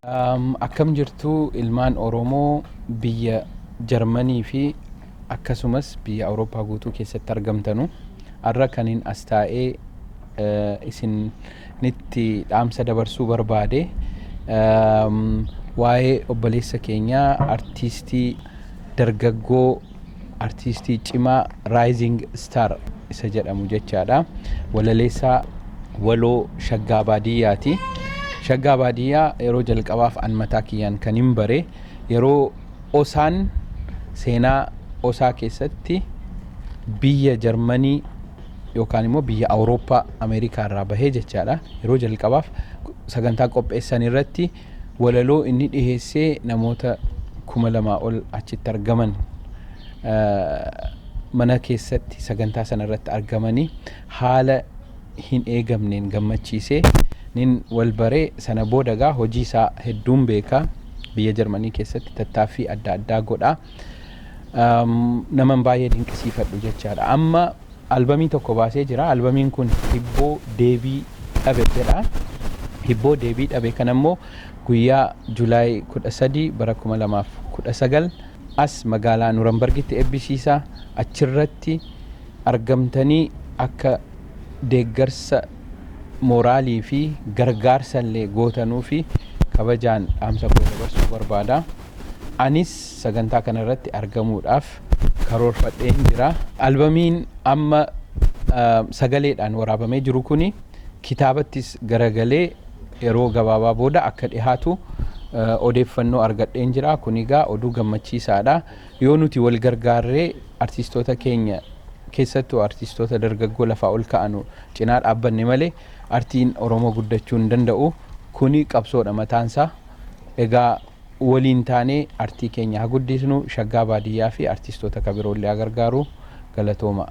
Um, akkam jirtu ilmaan Oromoo biyya Jarmanii fi akkasumas biyya Awurooppaa guutuu keessatti argamtanu har'a kanin as taa'ee eh, isinitti dhaamsa dabarsuu barbaade um, waa'ee obboleessa keenyaa artiistii dargaggoo Artiistii cimaa Rising Star isa jedhamu jechaadha. Walaleessaa waloo Shaggaa Baadiyyaati. Shaggaa Baadiyyaa yeroo jalqabaaf an mataa kiyyaan kan hin bare yeroo osaan seenaa osaa keessatti biyya Jarmanii yookaan immoo biyya Awurooppaa Ameerikaa irraa bahee jechaadha. Yeroo jalqabaaf sagantaa qopheessan irratti Walaloo inni dhiheesse namoota kuma lamaa ol achitti argaman mana keessatti sagantaa sana irratti argamanii haala hin eegamneen gammachiise nin wal bare sana booda gaa hojii isaa hedduun beeka biyya Jarmanii keessatti tattaaffii adda addaa godha. naman baay'ee dinqisiifadhu jechaadha. Amma albamii tokko baasee jira. Albamiin kun hibboo deebii dhabe jedha. Hibboo deebii dhabe kana immoo guyyaa Julaay 13 bara 2019 as magaalaa Nurambargitti eebbisiisa. Achirratti argamtanii akka deeggarsa mooraalii fi gargaarsa illee gootanuu fi kabajaan dhaamsa koo dabarsuu barbaada. Anis sagantaa kana irratti argamuudhaaf karoorfadheen jira. Albamiin amma sagaleedhaan waraabamee jiru kuni kitaabattis garagalee yeroo gabaabaa booda akka dhihaatu odeeffannoo argadheen jira. Kun egaa oduu gammachiisaadha. Yoo nuti wal gargaarree artistoota keenya keessattuu artistoota dargaggoo lafaa ol ka'anu cinaa dhaabbanne malee artiin Oromoo guddachuu hin danda'u. Kuni qabsoodha mataansaa. Egaa Waliin taanee artii keenya ha guddiisnu shaggaa baadiyyaa fi artiistoota ka biroollee haa gargaaru. Galatoomaa.